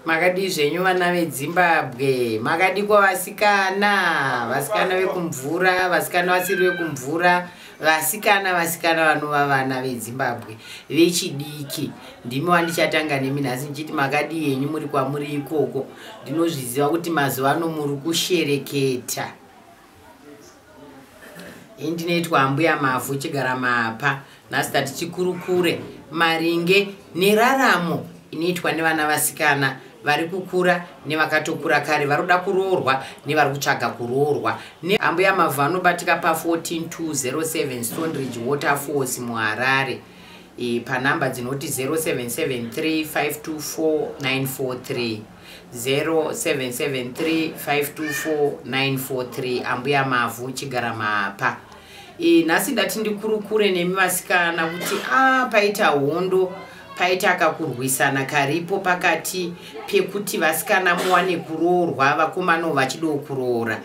makadii zvenyu vana vedzimbabwe makadiko vasikana vasikana vekumvura vasikana vasiri vekumvura vasikana vasikana vanova vana vedzimbabwe vechidiki ndimi wandichatanga nemi nhasi ndichiti makadii henyu muri kwamuri ikoko ndinozviziva kuti mazuva ano muri kushereketa indinoitwa ambuya mavhu chigara mapa nhasi tati tikurukure maringe neraramo inoitwa nevana vasikana vari kukura nevakatokura kare vari kuda kuroorwa nevari kutsvaga kuroorwa neambuya mavhu anobatika pa14207 stonridge waterfalls muharare e, panhamba dzinoti 0773524943 0773524943 ambuya mavhu chigara mapa e, nhasi ndati ndikurukure nemi vasikana kuti a ah, paita hondo paita kakurwisana karipo pakati pekuti vasikana muwane kuroorwa vakomano vachidowo kuroora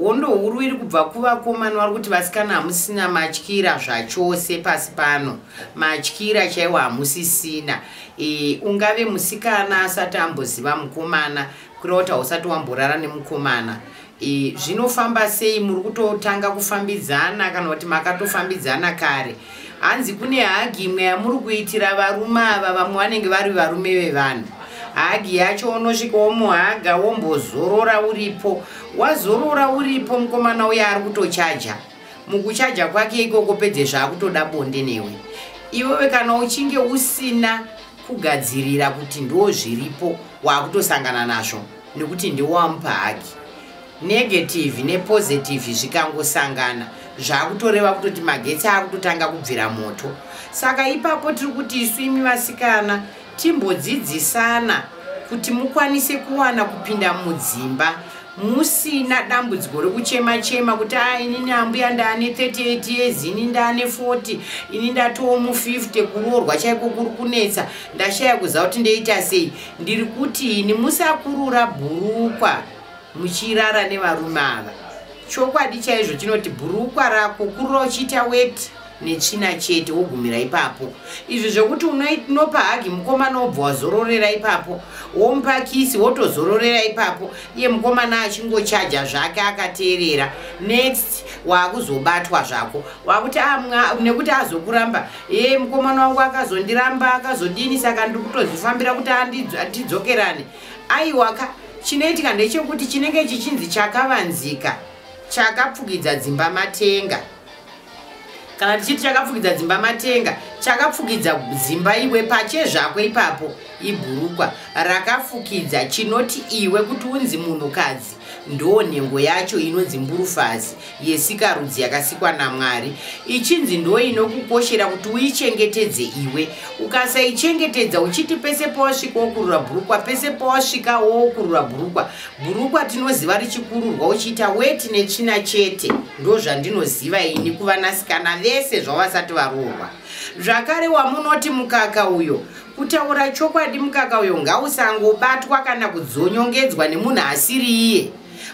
hondo huru iri kubva kuvakomana vari kuti vasikana hamusina matyira zvachose pasi pano matyira chaiwo hamusisina e, ungave musikana asati amboziva mukomana kureva kuti hausati wamborara nemukomana e, zvinofamba sei muri kutotanga kufambidzana kana kuti makatofambidzana kare hanzi kune hagi imwe yamuri kuitira varume ava vamwe vanenge vari varume vevanhu hagi yacho unosvika womuhaga wombozorora uripo wazorora uripo mukomana uye ari kutochaja mukuchaja kwake ikoko pedze zvaakutoda bonde newe iwewe kana uchinge usina kugadzirira kuti ndo zviripo waakutosangana nazvo nekuti ndiwamupa hagi Negative ne positive zvikangosangana zvakutoreva kutoti magetsi akutotanga kubvira moto. Saka ipapo tiri kuti isu imi vasikana timbodzidzisana kuti mukwanise kuwana kupinda mudzimba musina dambudziko rekuchema chema kuti a ah, inini ambuya ndaane 38 years ini ndaane 40 ini ndatowo mu 50 kuroorwa chaiko kuri kunetsa ndashaya kuziva kuti ndoita sei ndiri kuti ini musakurura bhurukwa muchirara nevarume ava chokwadi chaizvo chinoti bhurukwa rako kurira uchiita weti netsvina chete wogumira ipapo izvi zvekuti unopa hagi mukomana wobva wazororera ipapo womupa kisi wotozororera ipapo iye mukomana achingochaja zvake akateerera next waakuzobatwa zvako wakuti amwa ah, nekuti azokuramba e mukomana wangu akazondiramba akazodini saka ndiri kutozvifambira kuti atidzokerane aiwaka chinoitika ndechekuti chinenge chichinzi chakavanzika chakapfukidza dzimba matenga kana tichiti chakapfukidza dzimba matenga chakapfukidza dzimba iwe pache zvako ipapo ibhurukwa rakafukidza chinoti iwe kuti unzi munhukadzi Ndoo nhengo yacho inonzi mburufazi yesikarudzi yakasikwa naMwari, ichinzi ndoo inokukoshera kuti uichengetedze iwe. Ukasaichengetedza uchiti pese pawasvika wokurura bhurukwa, pese pawasvika wokurura bhurukwa. Bhurukwa tinoziva richikururwa uchiita weti netsvina chete. Ndozvandinoziva ini kuvanasikana vese zvavasati varoorwa. Zvakare wamunoti mukaka uyo, Kutaura chokwadi mukaka uyo ngausangobatwa kana kudzonyongedzwa nemunhu asiri iye.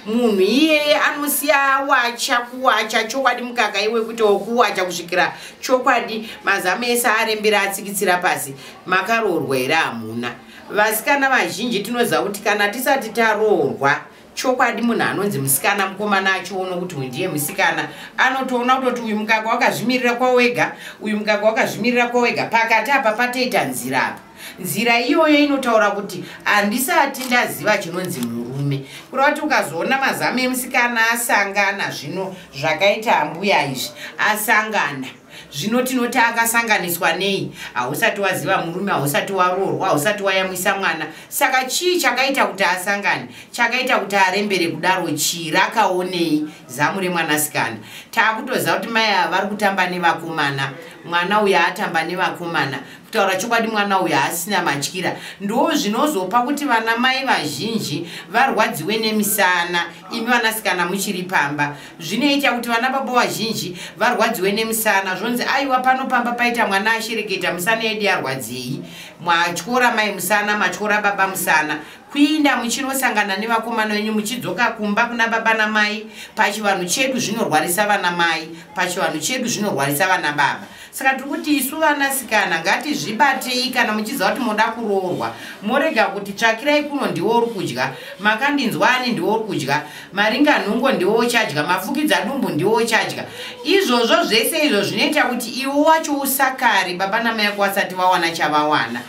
Munhu iyeye anosiya awacha kuwacha chokwadi mukaka iwe kuti wokuwacha kusvikira chokwadi mazamu ese arembera atsikitsira pasi. Makaroorwa here hamuna? Vasikana vazhinji tinoziva kuti kana tisati taroorwa chokwadi munhu anonzi musikana mukomana achiono kuti uyu ndiye musikana anotoona kutoti uyu mukaka wakazvimirira kwawega uyu mukaka wakazvimirira kwawega pakati apa patoita nzira apa nzira iyoyo inotaura kuti handisati ndaziva chinonzi murume kuri kuti ukazoona mazamu emusikana asangana zvino zvakaita ambuya izvi asangana zvino tinoti akasanganiswa nei hausati waziva murume hausati waroorwa hausati wayamwisa mwana saka chii chakaita kuti asangane chakaita kuti arembere kudaro chii rakaonei zamu remwanasikana taakutoziva kuti mai ava vari kutamba nevakomana mwana uyo atamba nevakomana kutaura chokwadi mwana uyo asina matyira ndo zvinozopa kuti vana mai vazhinji varwadziwe nemisana imi vanasikana muchiri pamba zvinoita kuti vana baba vazhinji varwadziwe nemusana zvonzi aiwa pano pamba paita mwana ashereketa musana yedu yarwadzei matyora mai musana matyora baba musana kuinda muchinosangana nevakomana venyu muchidzoka kumba kuna baba namai pachivanhu chedu zvinorwarisa vana mai pachivanhu chedu zvinorwarisa vana baba saka tiri kuti isu vanasikana ngatizvibatei kana muchiziva kuti moda kuroorwa morega kuti tsvakirai kuno ndiwo uri kudya makandinzwa ani ndiwo uri kudya maringa nhungo ndiwo uchadya mafukidza dumbu ndiwo uchadya izvozvo zvese izvo zvinoita kuti iwo wacho usakari baba namai yako vasati vawana chavawana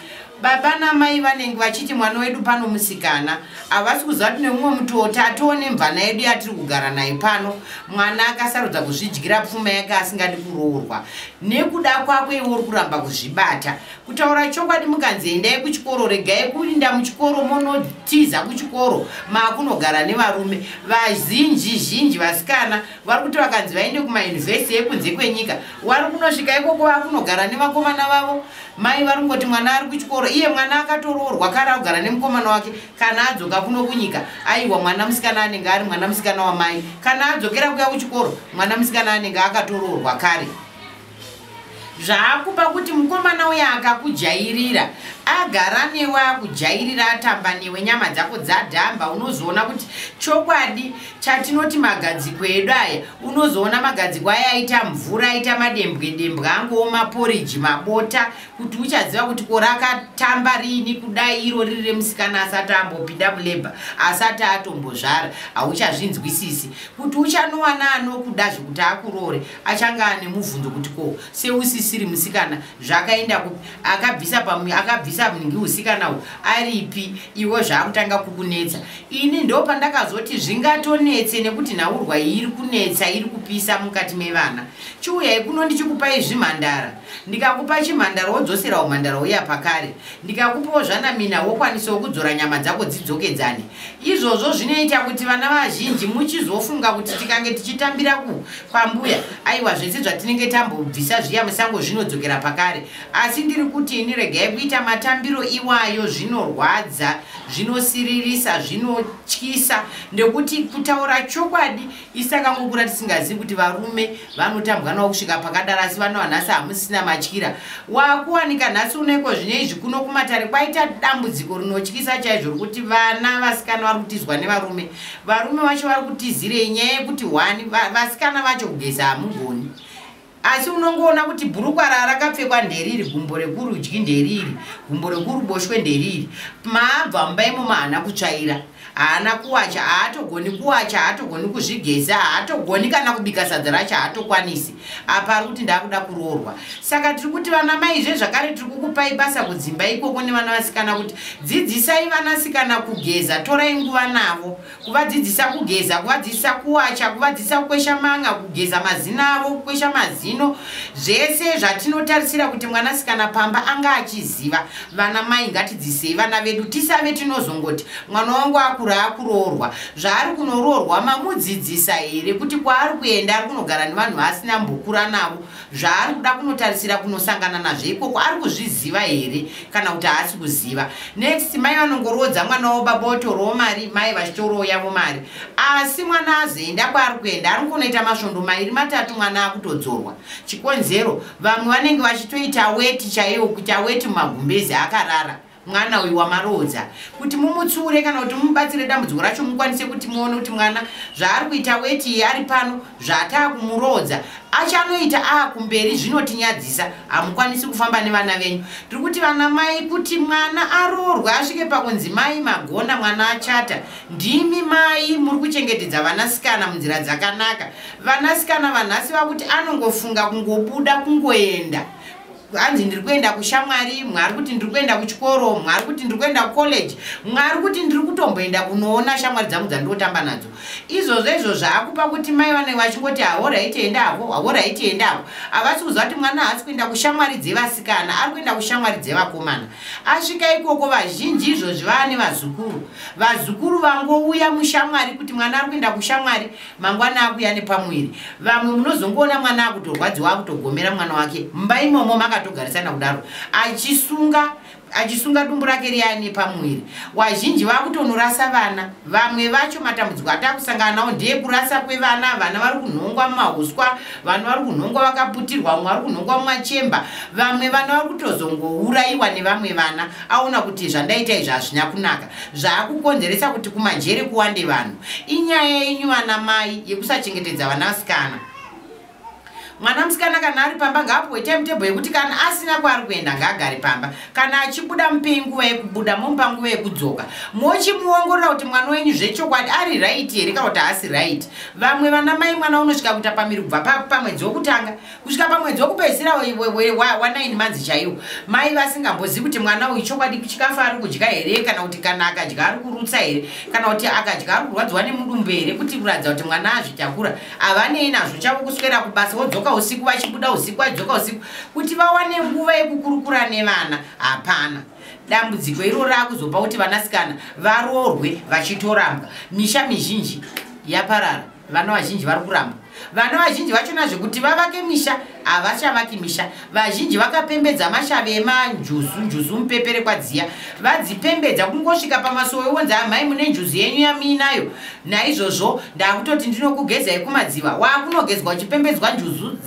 baba namai vanenge vachiti mwana wedu pano musikana havasi kuziva kuti nemumwe mutoti atiwo nemvana yedu yatiri kugara naye pano mwana akasarudza kuzvidyira pfuma yake asingadi kuroorwa nekuda kwako iwe uri kuramba kuzvibata kutaura chokwadi mukanzi endai kuchikoro regai kuinda muchikoro monotiza kuchikoro maakunogara nevarume vazhinji zhinji vasikana vari kuti vakanzi vaende kumayunivhesiti yekunze kwenyika wari kunosvika ikoko vakunogara nevakomana vavo Mai vari kungoti mwana ari kuchikoro iye mwana akatoroorwa kare akugara nemukomana wake kana adzoka kuno kunyika aiwa mwana musikana anenge ari mwana musikana wamai kana adzokera kuya kuchikoro mwana musikana anenge akatoroorwa kare zvaakupa kuti mukomana uya akakujairira agara newe akujairira atamba newe nyama dzako dzadhamba unozoona kuti chokwadi chatinoti magadziko edu aya unozoona magadziko aya aita mvura aita madembwe dembwe angowo maporiji mabota kuti uchaziva kuti ko rakatamba riini kudai iro riri remusikana asati ambopinda muleba asati atombozvara hauchazvinzwisisi kuti uchanowana anokuda zvekuti akurore achange ane mubvunzo kuti ko seusisiri musikana zvakaenda kupi akabvisa pamwe akabvisa mungi usikana u aripi iwe zvaakutanga kukunetsa ini ndopandakazoti zvingatonetse nekuti nhaurwa iyi iri kunetsa iri kupisa mukati mevana chiuyai kuno ndichikupai zvimhandara ndikakupa chimhandara wodzosera umhandara uya pakare ndikakupawo zvanamina wokwanisawo kudzora nyama dzako dzidzokedzane izvozvo zvinoita kuti vana vazhinji muchizofunga kuti tikange tichitambira ku kwambuya aiwa zvese zvatinenge tambobvisa zviya musango zvinodzokera pakare asi ndiri kuti ini regai kuita matambiro iwayo zvinorwadza zvinosiririsa zvinotyisa nekuti kutaura chokwadi isi takangokura tisingazivi kuti varume vanotambwa navo kusvika pakadaro asi vana vanhasi hamusisina matyira wakuwanika nhasi unoiko zvine izvi kuno kumatare kwaita dambudziko rinotyisa chaizvo rokuti vana vasikana vari kutizwa nevarume varume vacho vari kutizirei nyaya yekuti hwani vasikana vacho kugeza hamugoni asi unongoona kuti bhurukwa rarakapfekwa nderiri gumbo rekurudyi nderiri gumbo rekuruboshwe nderiri maabva mumba imomo haana kutsvaira haana kuwacha haatogoni kuwacha haatogoni kuzvigeza haatogoni kana kubika sadza racho haatokwanisi apa ari kuti ndaakuda kuroorwa saka tiri kuti vana mai zve zvakare tiri kukupai basa kudzimba ikoko nevana vasikana kuti dzidzisai vanasikana kugeza torai nguva navo kuvadzidzisa kugeza kuvadzidzisa kuwacha kuvadzidzisa kukwesha manga kugeza mazino avo kukwesha mazino zvese zvatinotarisira kuti mwanasikana pamba anga achiziva vana mai ngatidzisei vana vedu tisave tinozongoti mwana wangu akura akuroorwa zvaari kunoroorwa mamudzidzisa here kuti kwaari kuenda ari kunogara nevanhu vaasina mbokura navo zvaari kuda kunotarisira kunosangana nazvo ikoko ari kuzviziva here kana kuti haasi kuziva next mai vanongoroodza mwana wavo baba votorowo mari mai vachitorowo yavo mari asi mwana azoenda kwaari kuenda ari kunoita masvondo mairi matatu mwana akutodzorwa chikonzero vamwe vanenge vachitoita weti chaiwo kuita weti mumagumbezi akarara mwana uyu wamaroodza kuti mumutsiure kana kuti mumubatsire dambudziko racho mukwanise kuti muone kuti mwana zvaari kuita weti ari pano zvaataa kumuroodza achanoita aa kumberi zvinotinyadzisa hamukwanisi kufamba nevana venyu tiri kuti vana mai kuti mwana aroorwe asvike pakunzi mai magona mwana achata ndimi mai muri kuchengetedza vanasikana munzira dzakanaka vanasikana vanhasi vakuti anongofunga kungobuda kungoenda hanzi ndiri kuenda kushamwari mwari kuti ndiri kuenda kuchikoro mwari kuti ndiri kuenda kucollege mwari kuti ndiri kutomboenda kunoona shamwari dzangu dzandotamba nadzo izvozvo izvo zvaakupa kuti mai vanenge vachingoti hahora itienda havo hahora itienda havo havasi kuziva kuti mwana haasi kuenda kushamwari dzevasikana ari kuenda kushamwari dzevakomana asvika ikoko vazhinji izvozvi vaa nevazukuru vazukuru vangouya mushamwari kuti mwana ari kuenda kushamwari mangwana akuya nepamuviri vamwe munozongoona mwana akutorwadziwa akutogomera mwana wake mumba imomo makatogarisana kudaro achisunga achisunga dumbu rake riya nepamuviri wazhinji vakutonorasa vana vamwe vacho matambudziko atakusangana nawo ndeekurasa kwevana vana vari kunhongwa mumauswa vana vari kunhongwa vakaputirwa vamwe vari kunhongwa mumachemba vamwe vana vari kutozongourayiwa nevamwe vana aona kuti zvandaita izvi hazvina kunaka Zvaakukonzeresa kuti kumajere kuwande vanhu inyaya yenyu vana mai yekusachengetedza vana vasikana. Mwana musikana kana ari pamba ngaapuwe timetable yekuti kana asina kwaari kuenda ngaagare pamba. Kana achibuda mupei nguva yekubuda momupa nguva yekudzoka. Mochimuongorora kuti mwana wenyu zvechokwadi ari right here kana kuti haasi right. Vamwe vana mai mwana unosvika kuita pamiri kubva pamwedzi wekutanga. kusvika pamwedzi wekupedzisira wa9 manzi chaiwo mai vasingambozivi kuti mwana uyu chokwadi chikafu ari kudya here kana kuti kana akadya ari kurutsa here kana kuti akadya ari kurwadziwa nemudumbu here kuti kuratidza kuti mwana azvitakura havanei nazvo chavo kuswera kubasa wodzoka usiku vachibuda usiku vadzoka usiku kuti vawane nguva yekukurukura nevana hapana dambudziko iro raakuzopa kuti vanasikana varoorwe vachitorambwa misha mizhinji yaparara vana vazhinji vari kuramba vana vazhinji vachona zvekuti vavake misha havachavaki misha vazhinji vakapembedza mashave emanjuzu njuzu mupepere kwadziya vadzipembedza kungosvika pamasowe wonzi amai mune njuzu yenyu yamiinayo naizvozvo ndakutoti ndinokugezai kumadziva waakunogezwa uchipembedzwa njuzu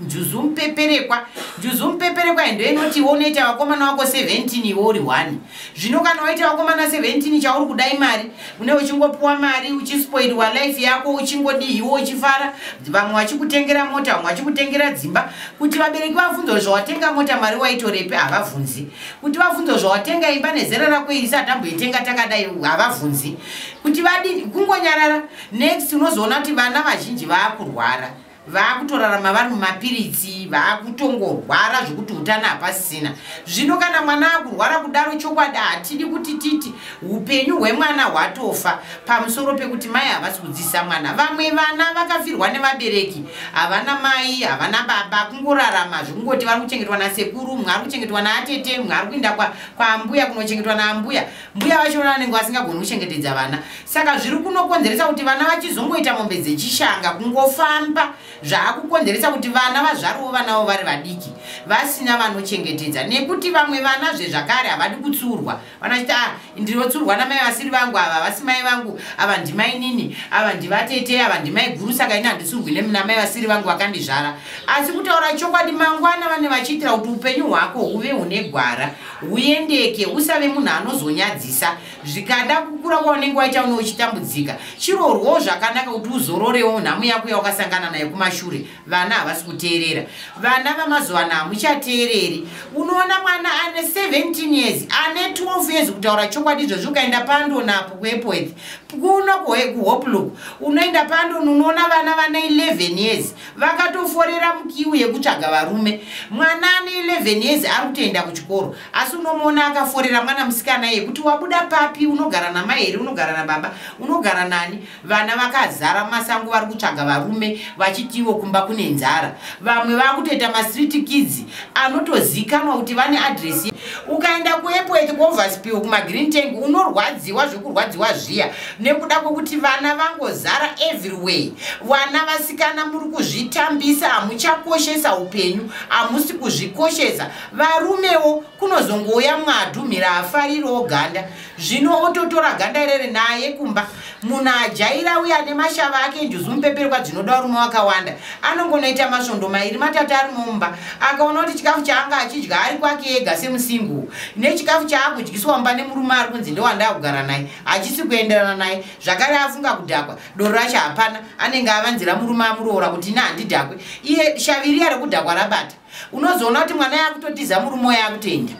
njuzu mupeperekwa njuzu mupeperekwa indo inoti iwe unoita vakomana wako 17 iwe uri 1 zvino kana waita vakomana 17 chauri kudai mari une uchingopiwa mari uchispoilwa life yako uchingodihiwo uchifara vamwe vachikutengera mota vamwe vachikutengera dzimba kuti vabereki vavhunzo zvawatenga mota mari waitorepi havavhunzi kuti vavhunzo zvawatenga imba nezera rako iri satamboitenga takadai havavhunzi kuti vadii kungonyarara next unozoona kuti vana vazhinji vaakurwara vaakutorarama vari mumapiritsi vaakutongorwara zvekuti utano hapasisina zvino kana mwana akurwara kudaro chokwadi hatidi kuti titi upenyu hwemwana hwatofa pamusoro pekuti mai havasi kudzidzisa mwana vamwe vana vakafirwa nevabereki havana mai havana baba kungorarama zvekungoti vari kuchengetwa nasekuru mumwe ari kuchengetwa naatete mumwe ari kuinda kwaambuya kunochengetwa naambuya mbuya vacho vana vanenge vasingagoni kuchengetedza vana saka zviri kunokonzeresa kuti vana vachizongoita mombe dzechishanga kungofamba zvaakukonzeresa kuti vana vazvarovo vanavo vari vadiki vasina vanochengetedza nekuti vamwe vana zvezvakare havadi kutsurwa vanachiti a ah, ndinotsurwa namai vasiri vangu ava vasi mai vangu ava ndimainini ava ndivatete ava ndimai guru saka ini handitsurwi namai vasiri vangu vakandizvara asi kutaura chokwadi mangwana vane vachiitira kuti upenyu hwako huve hune gwara uendeke usave munhu anozonyadzisa zvikada kukura kwaunenge waita une uchitambudzika chirorwawo zvakanaka kuti uzororewo nhamu yako yawakasangana nayo kumashure vana havasi kuteerera vana vamazuvana hamuchateereri unoona mwana ane 17 years ane 12 years kutaura chokwadi izvozvi ukaenda pandonapo kuepoeth kuno kuhoplook unoenda pandon unoona vana vane 11 years vakatoforera mukiu yekutsvaga varume mwana ane 11 years ari kutoenda kuchikoro asi unomuona akaforera mwana musikana yekuti wabuda papi unogara namai here unogara nababa unogara nani vana vakazara masango vari kutsvaga varume vachitiwo kumba kune nzara vamwe vakutoita mastreet kids anotozikanwa kuti vane adresi ukaenda kuepwet kuoverspiel kumagreen tank unorwadziwa zvekurwadziwa zviya nekuda kwekuti vana vangozara everywhere vana vasikana muri kuzvitambisa hamuchakoshesa upenyu hamusi kuzvikoshesa varumewo kunozongouya mwadhumhira afaririwo ganda zvino ototora ganda irere naye kumba munhu ajaira uye ane mashava ake njuzu mupeperwa dzinoda rume wakawanda anongonoita masvondo mairi matatu ari mumba akaona kuti chikafu chaanga achidya ari kwake ega semusingu nechikafu chaakudyiswa mumba nemurume ari kunzi ndewandakugara naye hachisi kuenderana naye zvakare afunga kudhakwa doro racho hapana anenge avanzira murume amuroora kuti ine handidhakwe iye shaviriya rekudhakwa rabata unozoona kuti mwana yakutotiza murume uyo akutoenda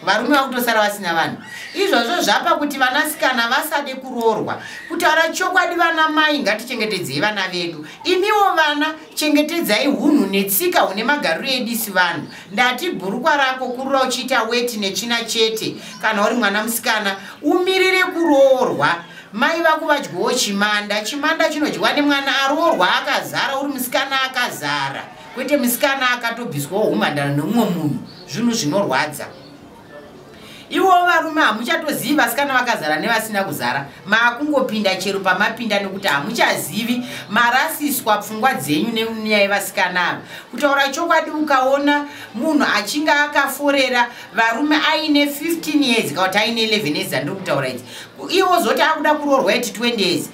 varume vakutosara vasina vanhu izvozvo zvapa kuti vanasikana vasade kuroorwa kutaura chokwadi vana mai ngatichengetedzei vana vedu imiwo vana chengetedzai hunhu netsika hune magariro edisi vanhu ndati bhurukwa rako kurura uchiita weti netsvina chete kana uri mwana musikana umirire kuroorwa mai vako vadyowo chimanda chimanda chinodyiwa nemwana aroorwa akazara uri musikana akazara kwete musikana akatobviswawo humhandara nemumwe munhu zvinhu zvinorwadza iwo varume hamuchatozivi vasikana vakazara nevasina kuzara maakungopinda chero pamapinda nekuti hamuchazivi marasiswa pfungwa dzenyu nenyaya yevasikana ava kutaura chokwadi ukaona munhu achinge akaforera varume aine 15 years kana kuti aine 11 years andiri kutaura idzi iwo zoti akuda kuroorwa eti 20 years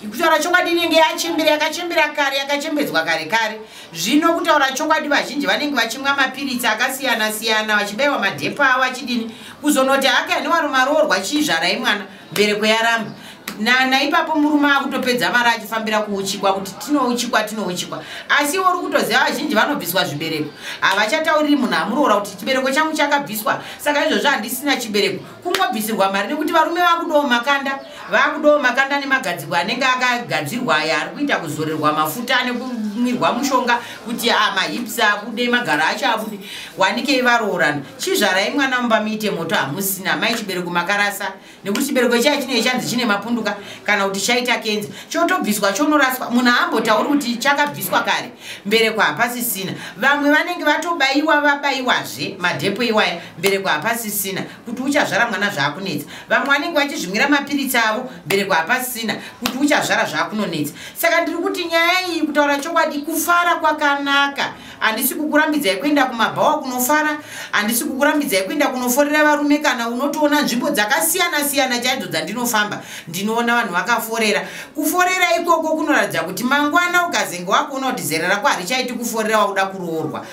kutaura chokwadi inenge yachembera yakachembera kare yakachembedzwa kare kare zvino kutaura chokwadi vazhinji vanenge vachimwa mapiritsi akasiyana siyana vachibaiwa madhepo avo achidini kuzonoti hake ane wari maroorwa chiizvarai mwana mbereko yaramba naipapo murume akutopedza mari achifambira kuuchikwa kuti tinouchikwa tinouchikwa asi iwo uri kutoziva vazhinji vanobviswa zvibereko havachatauriri munhu amuroora kuti chibereko changu chakabviswa saka izvozvo handisina chibereko kungobvisirwa mari nekuti varume vakudowo makanda vakudowo makanda nemagadzirwa anenge akagadzirwa aya ari kuita kuzorerwa mafuta nekumwirwa mushonga kuti ah, mahips abude magaro acho abude wanikei varoorana chizvarai mwana mumba muite moto hamusina mai chibereko makarasa nekuti chibereko chai chinei chanzi chine mapunduka kana kuti chaita kenza chotobviswa chonoraswa munhu aambotauri kuti chakabviswa kare mbereko hapasisina vamwe vanenge vatobaiwa vabaiwazve madhepo iwaya mbereko hapasisina kuti uchazvara mwana zvaakunetsa vamwe vanenge vachizvimwira mapiritsi avo mbereko hapasisina kuti uchazvara zvaakunonetsa saka ndiri kuti nyaya iyi kutaura chokwadi kufara kwakanaka handisi kukurambidzai kuenda kumabhawa kunofara handisi kukurambidzai kuenda kunoforera varume kana unotoona nzvimbo dzakasiyana siyana chaidzo dzandinofamba ndinoona vanhu vakaforera kuforera ikoko kunoratidza kuti mangwana ukazenge wakuona kuti zera rako harichaiti kuforera wakuda kuroorwa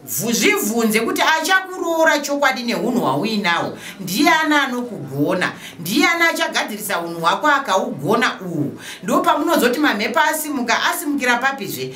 zvibvunze kuti achakuroora chokwadi neunhu hwauinahwo ndiye ani anokugona ndiye ani achagadzirisa unhu hwako akaugona uhwu ndo pamunozoti mamhepo asimuka asimukira papizve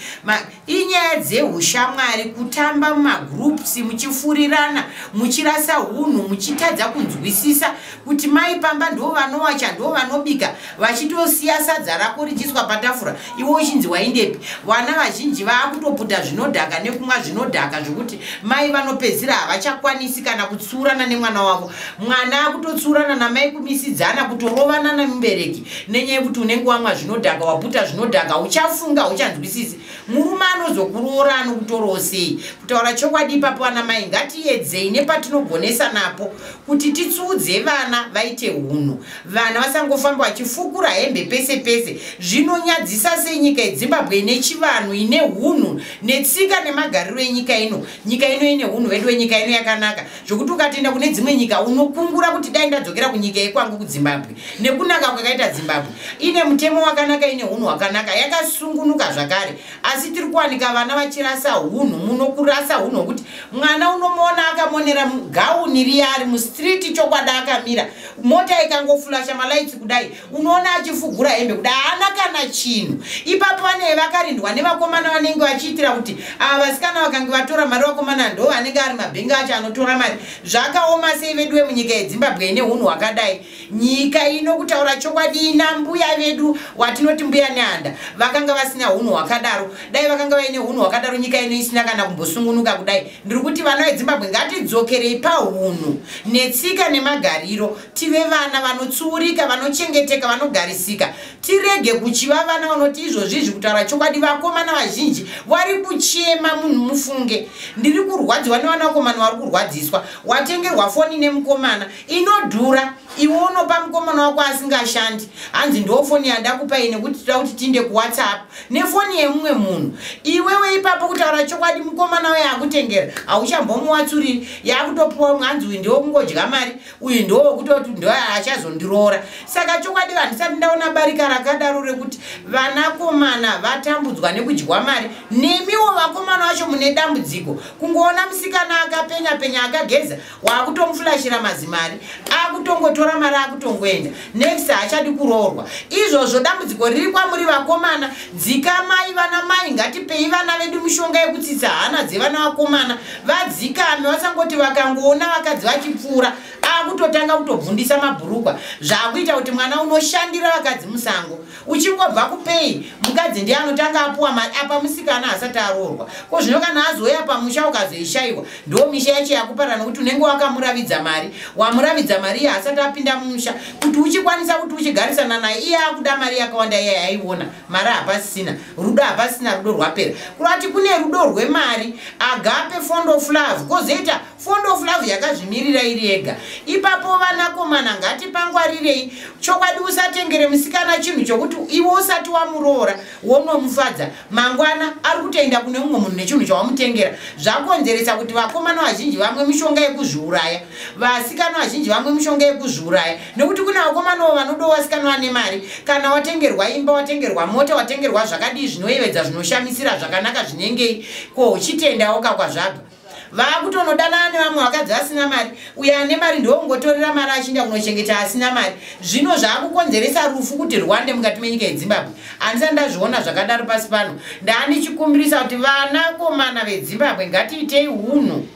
inyaya dzeushamwari kutamba mumagroups muchifurirana muchirasa hunhu muchitadza kunzwisisa kuti mai pamba ndo vanowacha ndo vanobika vachitosiya sadza rako richiswa patafura iwe uchinzi waindepi vana vazhinji vaakutoputa zvinodhaka nekumwa zvinodhaka zvekuti mai vanopedzira havachakwanisi kana kutsiurana nemwana wavo mwana akutotsiurana namai kumisidzana kutorovana nemubereki nenyaya yekuti unenge wamwa zvinodhaka waputa zvinodhaka uchafunga uchanzwisisi murume anozokuroora anokutorawo sei kutaura chokwadi ipapo vana mai ngatiedzei nepatinogonesa napo kuti titsuudze vana vaite hunhu vana vasangofamba vachifukura hembe pese pese zvinonyadzisa sei nyika yezimbabwe ine chivanhu ine hunhu netsika nemagariro enyika ino nyika ino ine hunhu vedu wenyika ino yakanaka zvokuti ukatoenda kune dzimwe nyika unokungura kuti dai ndadzokera kunyika yekwangu kudzimbabwe nekunaka kwakaita dzimbabwe ine mutemo wakanaka ine unhu hwakanaka yakasungunuka zvakare asi tiri kuwanika vana vachirasa unhu muno kurasa unhu hwekuti mwana unomuona akamonera gauni riya ari mustreet chokwada akamira mota ikangofulasha malaitsi kudai unoona achifugura hembe kuda haana kana chinhu ipapo vanee vakarindwa nevakomana vanenge vachiitira kuti ava vasikana vakange vatora mari vakomana ndo vanenge ari mabhengi acho anotora mari zvakaoma sei vedu vemunyika yezimbabwe ine unhu hwakadai nyika ino kutaura chokwadi ina mbuya vedu watinoti mbuya nehanda vakanga vasina unhu hwakadaro dai vakanga vaine unhu hwakadaro nyika ino isina kana kumbosungunuka kudai ndiri kuti vana vezimbabwe ngatidzokerei paunhu netsika nemagariro tive vana vanotsiurika vanochengeteka vanogarisika tirege kuchiva vana vanoti izvozvi izvi kutaura chokwadi vakomana vazhinji wari kuchema munhu mufunge ndiri kurwadziwa nevana vakomana wari kurwadziswa watengerwa foni nemukomana inodhura iwe unopa mukomana wako asingashandi hanzi ndo foni yanda kupai nekuti tida kuti tiinde kuwhatsapp nefoni yemumwe munhu iwewe ipapo kutaura chokwadi mukomana we akutengera hauchambomuwatsuriri yakutopiwa mwanzi uyu ndiwo kungodya mari uyu ndowokutoti ndoachazondiroora saka chokwadi handisati ndaona barika rakadaro rekuti vanakomana vatambudzwa nekudyiwa mari nemiwo vakomana vacho mune dambudziko kungoona musikana akapenya penya akageza waakutomufulashira mazimari akutongotora mari akutongoenda Next haachadi kuroorwa. Izvozvo dambudziko riri kwamuri vakomana, dzikamai vana mai ngatipei vana vedu mishonga yekutsitsa hana dzevana vakomana. Vadzikame vasangoti vakangoona vakadzi vachipfuura akutotanga kutobvundisa mabhurukwa zvakuita kuti mwana unoshandira vakadzi musango. uchingobva kupei mukadzi ndiye anotanga apuwa mari apa musikana asati aroorwa ko zvino kana azouya pamusha ukazoishaiwa ndo misha yacho yakupara nokuti unenge wakamuravidza mari wamuravidza mari iye asati apinda mumusha kuti uchikwanisa kuti uchigarisana naye iye akuda mari yakawanda iye yaiona mari hapasisina rudo hapasisina rudo rwapera kurati kune rudo rwemari agape fond of love kozoita fond of love yakazvimirira iri yega ipapo vanakomana ngati pangwarirei chokwadi usatengere musikana chinhu chokuti iwe usati wamuroora wonomufadza mangwana ari kutoenda kune mumwe munhu nechinhu chawamutengera zvakonzeresa kuti vakomana vazhinji vamwe mishonga yekuzviuraya vasikana vazhinji vamwe mishonga yekuzviuraya nekuti kune vakomanawo vanodo vasikana vane mari kana watengerwa imba watengerwa mota watengerwa zvakadii zvinoyevedza zvinoshamisira zvakanaka zvinengei ko uchitendawo kakwazvabva vaakutonodanana nevamwe vakadzi vasina mari uye ane mari ndokungotorera mari achinda kunochengeta asina mari zvino zvaakukonzeresa rufu kuti rwande mukati menyika yezimbabwe andisati ndazviona zvakadaro pasi pano ndaanichikumbirisa kuti vanakomana vezimbabwe ngatiitei unhu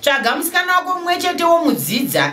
tsvaga musikana wako mumwe chetewo mudzidza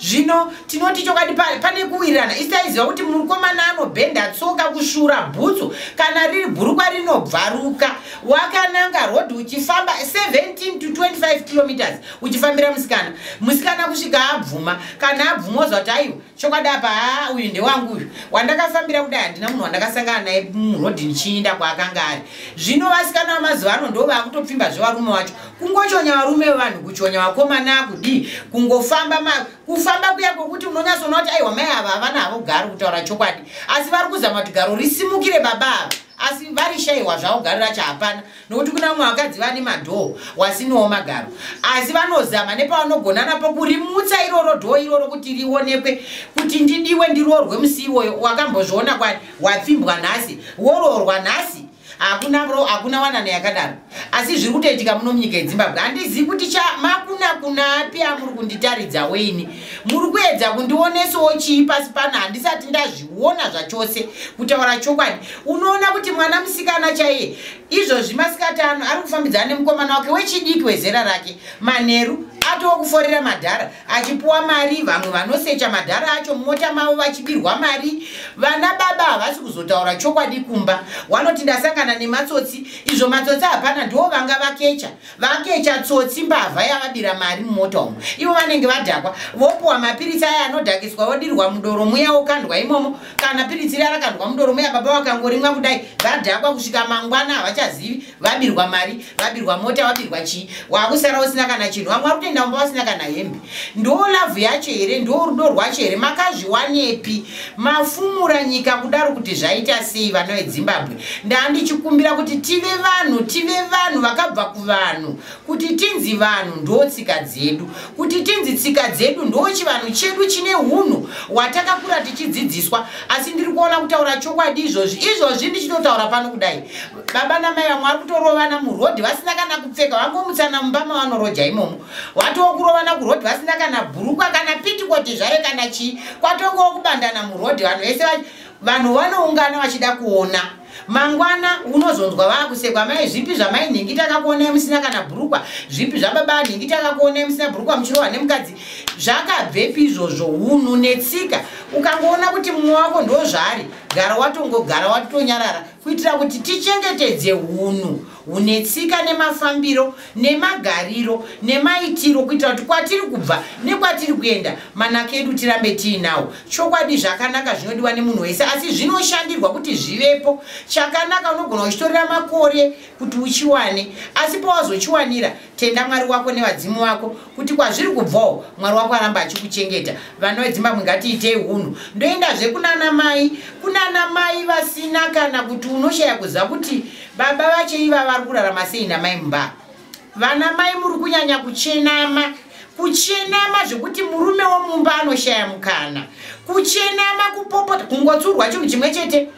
zvino tinoti chokwadi pane kuwirirana isaiziva kuti mukomana anobhenda tsoka kushura bhutsu kana riri bhurukwa rinobvaruka wakananga rhodhi uchifamba 17 to 25 kilometers uchifambira musikana musikana kusvika abvuma kana abvuma ozva kuti aiwa chokwadi apa haa uyu ndewangu uyu wandakafambira kudai handina munhu wandakasangana naye murhodhi ndichiinda kwaakanga ari zvino vasikana vamazuva ano ndo vakutopfimba zvevarume wacho kungochonya varume vevanhu kuchonya vakomana kudii kungofamba ma kufamba kuya kwokuti munonyasoona kuti aiwa mai ava havana havo garo kutaura chokwadi asi vari kuzama kuti garo risimukire baba ava asi vari shaiwa zvavo garo racho hapana nokuti kuna vamwe vakadzi vane madhoo wasinowo magaro asi vanozama nepavanogona napo kurimutsa iroro dhoo iroro kuti rionekwe kuti ndidiwe ndiroorwe musi iwoyo wakambozviona kwani wapfimbwa nhasi woroorwa nhasi hakuna bro hakuna wanano yakadaro asi zviri kutoitika muno munyika yezimbabwe handizivi kuti cha makuna kuna api amuri kunditaridza weini muri kuedza kundionesawo chii pasi pano handisati ndazviona zvachose kutaura chokwadi unoona kuti mwana musikana chaiye izvozvi masikati ano ari kufambidzana nemukomana wake wechidiki wezera rake manheru atowo kuforera madhara achipuwa mari vamwe vanosecha madhara acho mumota mavo vachibirwa mari vana baba havasi kuzotaura chokwadi kumba wanoti ndasangana nematsotsi izvo matsotsi hapana ndiwo vanga vakecha vakecha tsotsi mbavha yavabira mari mumota umo ivo vanenge vadhakwa vopuwa mapiritsi aya anodhakiswa vodirwa mudoro muya wokandwa imomo kana piritsi riya rakandwa mudoro muya baba vakangorimwa kudai vadhakwa kusvika mangwana havachazivi vabirwa mari vabirwa mota wabirwa chii wakusara usina kana chinhu vamwe vakutoenda mumba vasina kana hembe ndo lavhu yacho here ndo rudo rwacho here makazviwanepi mafumura nyika kudaro kuti zvaita sei vana vedzimbabwe ndandichikumbira kuti tive vanhu tive vanhu vakabva kuvanhu kuti tinzi vanhu ndo tsika dzedu kuti tinzi tsika dzedu ndo chivanhu chedu chine unhu watakakura tichidzidziswa asi ndiri kuona kutaura chokwadi izvozvi izvozvi ndichitotaura pano kudai baba namai vamwe vari kutorovana murodhi vasina kana kupfeka vangomutsana mumba mavanoroja imomo watoo kurovana kurodhi vasina kana bhurukwa kana pitikoti zvayo kana chii kwatongowo kubandana murodhi vanhu vese vanhu vanoungana vachida kuona mangwana unozonzwa vakusekwa mai zvipi zvamai nhingi takakuonai musina kana bhurukwa zvipi zvababa nhingi takakuonai musina bhurukwa muchirohwa nemukadzi zvakabvepi izvozvo unhu netsika ukangoona kuti mumwe wako ndozvaari gara watongogara watonyarara kuitira kuti tichengetedze hunhu hune tsika nemafambiro nemagariro nemaitiro kuitira kuti kwatiri kubva nekwatiri kuenda manaka edu tirambe tiinawo chokwadi zvakanaka zvinodiwa nemunhu wese asi zvinoshandirwa kuti zvivepo chakanaka unogona uchitorera makore kuti uchiwane asi pawazochiwanira tenda mwari wako nevadzimu vako kuti kwazviri kubvawo mwari wako aramba achikuchengeta vana vedzimbabwe ngatiitei hunhu ndoendazve kunana mai kunana mai vasina kana kuti unoshaya kuziva kuti baba vacho iva vari kurarama sei namai mumba vana mai muri kunyanya kuchenama kuchenama zvekuti murume womumba anoshaya mukana kuchenama kupopota kungotsurwa chinhu chimwe chete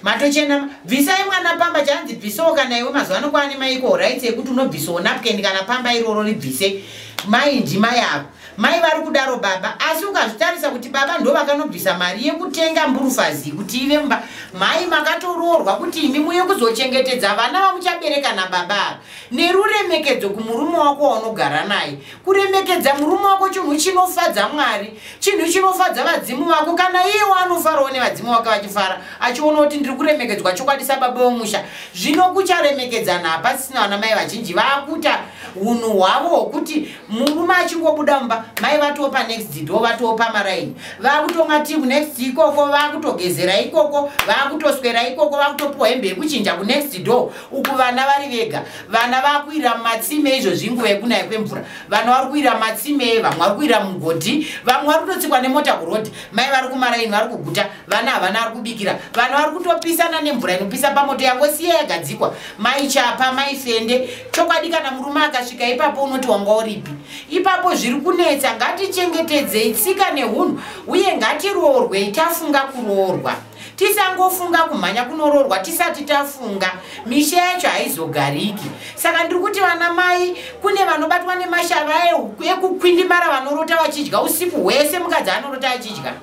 matochena bvisai mwana pamba chanzi bvisawo kana iwe mazuva ano kwaane maiko horaiti yekuti unobvisawo napken kana pamba iroro ribvise mai ndima yavo mai vari kudaro baba asi ukazvitarisa kuti baba ndo vakanobvisa mari yekutenga mburufazi kuti ive mba mai makatoroorwa kuti imi muye kuzochengetedza vana vamuchabereka nababa ava neruremekedzo kumurume wako waunogara naye kuremekedza murume wako chinhu chinofadza mwari chinhu chinofadza vadzimu vako kana iye waanofarawo nevadzimu vake vachifara achiona kuti ndiri kuremekedzwa chokwadi sababa wemusha zvino kucharemekedzana hapasisina vana mai vazhinji vaakuta unhu hwavo hwokuti murume achingobuda mumba mai vatiwo panext do vatiwo pamaraini vaakutonga ti kunext ikoko vaakutogezera ikoko vaakutoswera ikoko vaakutopiwa hembe yekuchinja kunext do uku vana vari vega vana vakuira mumatsime izvozvi nguva yekunaya kwemvura vana vari kuira matsime vamwe vari kuira mugodhi vamwe vari kutotsikwa nemota kurodhi mai vari kumaraini vari kuguta vana havana ari kubikira vana vari kutopisana nemvura inopisa pamoto yango siya yagadzikwa mai chapa mai fende chokwadi kana murume akasvika ipapo unoti wanga uripi ipapo zviri kunetsa ngatichengetedzei tsika neunhu uye ngatiroorwei tafunga kuroorwa tisangofunga kumhanya kunoroorwa tisati tafunga misha yacho haizogariki saka ndiri kuti vana mai kune vanobatwa nemashava ekukwindimara vanorota vachidya usiku hwese mukadzi anorota achidya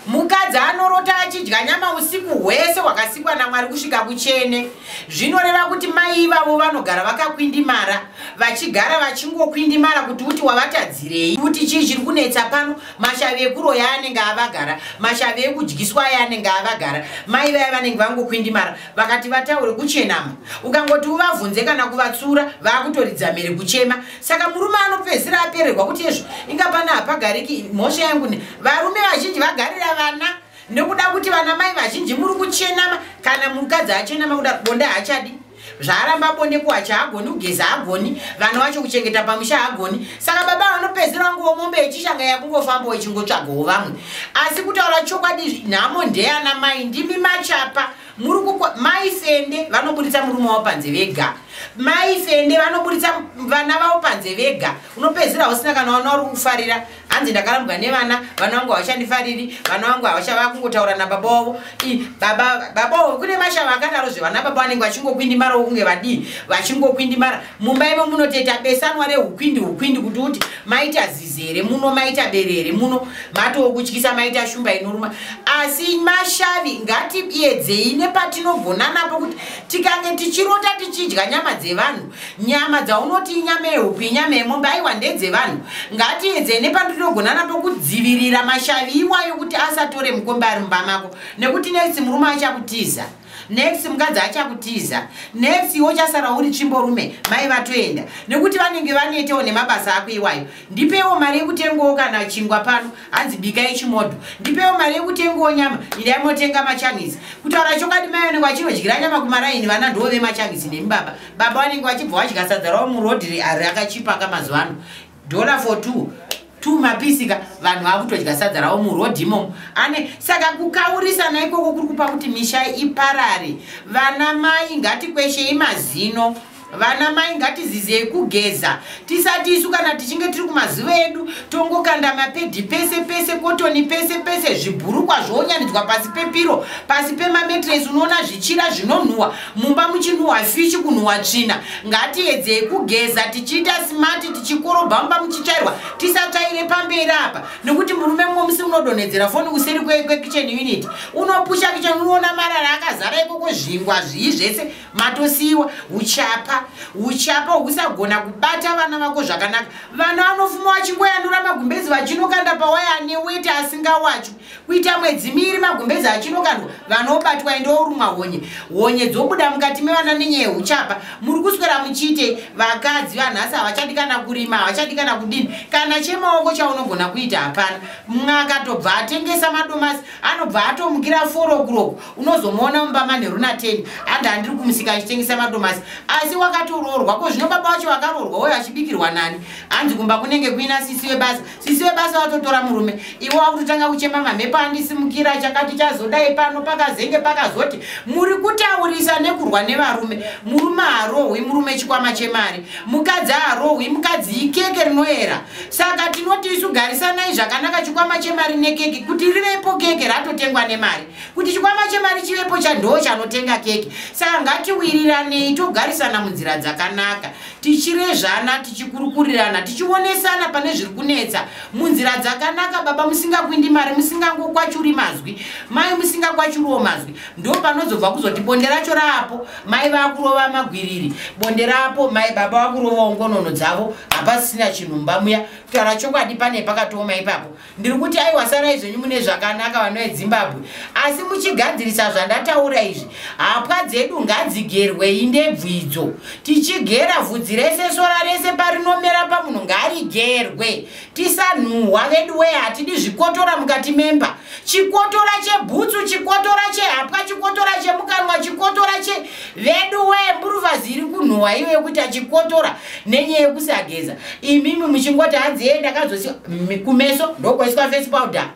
mukadzi anorota achidya nyama usiku hwese hwakasikwa namwari kusvika kuchene zvinoreva kuti mai ivavo vanogara vakakwindimara vachigara vachingokwindimara kuti uti wavatadzirei kuti chii chiri kunetsa pano mashavi ekuroya anenge avagara mashavi ekudyiswa aya anenge avagara mai vaya vanenge vangokwindimara vakati vataure kuchenama ukangoti uvavhunze kana kuvatsura vaakutoridza mhere kuchema saka murume anopedzisira apererwa kuti ezvo inga pana hapagariki mhosva yangu ne varume vazhinji vagarira vana nekuda kuti vana mai vazhinji muri kuchenama kana mukadzi achenama kuda bonde haachadi zvaaramba bonde kuwachi haagoni kugeza haagoni vana vacho kuchengeta pamusha haagoni saka baba vanopedzera wanguwo mombe yechishanga yakungofambawo ichingotsvagawo vamwe asi kutaura chokwadi nhamo ndeyana mai ndimi machapa muri kuko mai fende vanoburitsa murume wavo panze vega mai fende vanoburitsa vana vavo panze vega unopedzera usina kana wana uri kufarira hanzi ndakarambwa nevana vana vangu havachandifariri vana vangu havachava kungotaura nababa wavo i baba baba wavo kune mashava akadaro zvevana baba vanenge vachingokwindimara wokunge vadii vachingokwindimara mumba ivo munoteta besanwa reukwindi ukwindi kuti uti maita zizi here muno maita bere here muno matowokutyisa maita shumba inoruma asi mashavi ngatiedzei nepatinogona napo kuti tikange tichirota tichidya nyama dzevanhu nyama dzaunoti inyama yehupi inyama yemombe aiwa ndedzevanhu ngatiedzei nepandinogona napo kudzivirira mashavi iwayo kuti asatore mukombe ari mumba mako nekuti next murume achakutiza next mukadzi achakutiza next iwe uchasara uri tsvimborume mai vatoenda nekuti vanenge vanetewo nemabasa ako iwayo ndipewo mari yekutengawo kana chingwa pano hanzi bikai chimodho ndipewo mari yekutengawo nyama idai motenga machangisi kutaura chokwadi mai vanenge vachinodyira nyama kumaraini vana ndoo vemachangisi nemi baba baba vanenge vachibva vadya sadza ravo murodhi rakachipa mazuva ano dollar for two two mapisika vanhu vakutodya sadza ravo murodhi imomo ane saka kukaurisana ikoko kuri kupa kuti misha iparare vana mai ngatikweshei mazino vana mai ngatizizei kugeza tisati isu kana tichinge tiri kumazuva edu tongokanda mapedhi pese pese kotoni pese pese zvibhurukwa zvoonyanidzwa pasi pepiro pasi pemametres unoona zvichira zvinonhuhwa mumba muchinhuhwa fishi kunhuhwa tsvina ngatiedzei kugeza tichiita smati tichikorobha mumba muchichairwa tisatsvaire pamberi apa nekuti murume mumwe musi unodonhedzera foni kuseri kwekichen unit unopusha kichen unoona marara akazara ikoko zvingwa zvii zvese matosiiwa uchapa uchapa usagona kubata vana vako zvakanaka vana vanofuma vachingoyanura magumbezi vachinokanda pawaya ane weti asingawachwi kuita mwedzi miiri magumbezi achinokandwa vanobatwa ende orumwa honye honye dzobuda mukati mevana nenyaya yeuchapa muri kuswera muchiite vakadzi vanhasi havachadi kana kurima havachadi kana kudini kana chemaoko chaunogona kuita hapana mumwe akatobva atengesa madomasi anobva atomukira forokuroko unozomuona mumba manheru nateni and handiri kumusika achitengesa madomasi asi wakatoroorwa ko zvino baba wacho vakaroorwa uyo achibikirwa nani hanzi kumba kunenge kuina sisi webasa sisi webasa watotora murume iwe wakutotanga kuchema mamhepo andisimukira chakati chazodai pano pakazenge pakazoti muri kutaurisa nekurwa nevarume murume harohwi murume chikwama chemari mukadzi harohwi mukadzi ikeke rinoera saka tinoti isu garisanai zvakanaka chikwama chemari nekeke kuti rivepo keke ratotengwa nemari kuti chikwama chemari chivepo chandoo chanotenga keke saka ngatiwiriranei togarisana munzira dzakanaka tichirezvana tichikurukurirana tichionesana pane zviri kunetsa munzira dzakanaka baba musingakwindi mari musingangokwachuri mazwi mai musingakwachuriwo mazwi ndo panozobva kuzoti bonde racho raapo mai vakurova magwiriri bonde raapo mai baba vakurovawo ngonono dzavo hapasisina chinhu mbamuya kutaura chokwadi pane pakatooma ipapo ndiri kuti aiwa sarai zvenyu mune zvakanaka vana vedzimbabwe asi muchigadzirisa zvandataura izvi hapwa dzedu ngadzigerwei ndebvu idzo tichigera vhudzi rese sora rese parinomera pamunhu ngarigerwe tisanhuhwa vedu wee hatidi zvikotora mukati memba chikotora chebhutsu chikotora chehapwa chikotora chemukanwa chikotora che vedu wee mburuvazi iri kunhuhwa iwe kuita chikotora nenyaya yekusageza imimi muchingoti hanzi yee ndakazosi kumeso ndokwaiswa face powder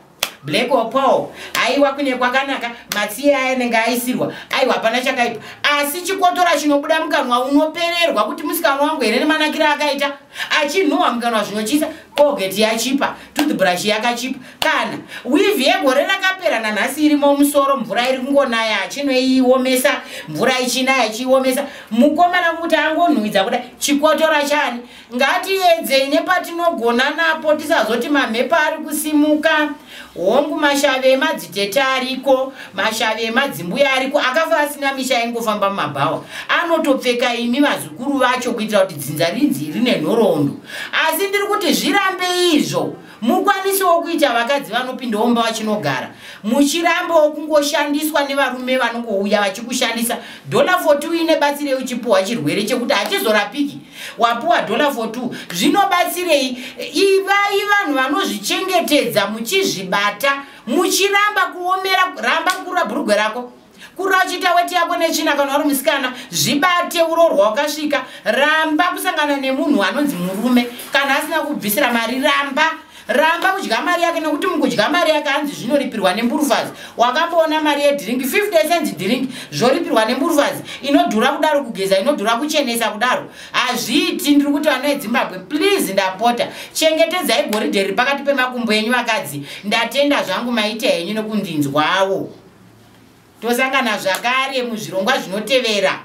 black or paul aiwa kune kwakanaka matsiye aya anenge aisirwa aiwa hapana chakaipa asi chikotora chinobuda mukanwa unopererwa kuti musikana wangu here nemanakiro akaita achinhuwa mukanwa zvinochisa colgate yachipa toothbrush yakachipa kana wivhi yegore rakapera nanhasi iri momusoro mvura iri kungonaya achinoiomesa mvura ichinaya ichiiomesa mukomana kuti angonhuwidza kuda chikotora chani ngatiedzei nepatinogona napo tisazoti mamhepo ari kusimuka hongu mashave emadzitete ariko mashave emadzimbuya ariko akafa asina misha yaingofamba mumabhawa anotopfeka imi vazukuru vacho kuitira kuti dzinza rinzi rine nhoroondo asi ndiri kuti zvirambe izvo Mukwanisi wokuita vakadzi vanopindawo mumba vachinogara muchirambo wokungoshandiswa nevarume vanongouya vachikushandisa dollar for two ine batsirei uchipuhwa chirwere chekuti hachizorapiki wapuwa dollar for two zvinobatsirei ivai vanhu vanozvichengetedza muchizvibata muchiramba kuomera ramba kura bhurugwe rako kurira uchiita weti yako netsvina kana wari musikana zvibate uroorwa wakasvika ramba kusangana nemunhu anonzi murume kana asina kubvisira mari ramba ramba kudya mari yake nekuti mukudya mari yake hanzi zvinoripirwa nemburufazi wakamboona mari yedhiringi 50 cents dhiringi zvoripirwa nemburufazi inodhura kudaro kugeza inodhura kuchenesa kudaro hazviiti ndiri kuti vana vedzimbabwe please ndapota chengetedzai goridhe riri pakati pemakumbo enyu vakadzi ndatenda zvangu maita henyu nekundinzwawo tosangana zvakare muzvirongwa zvinotevera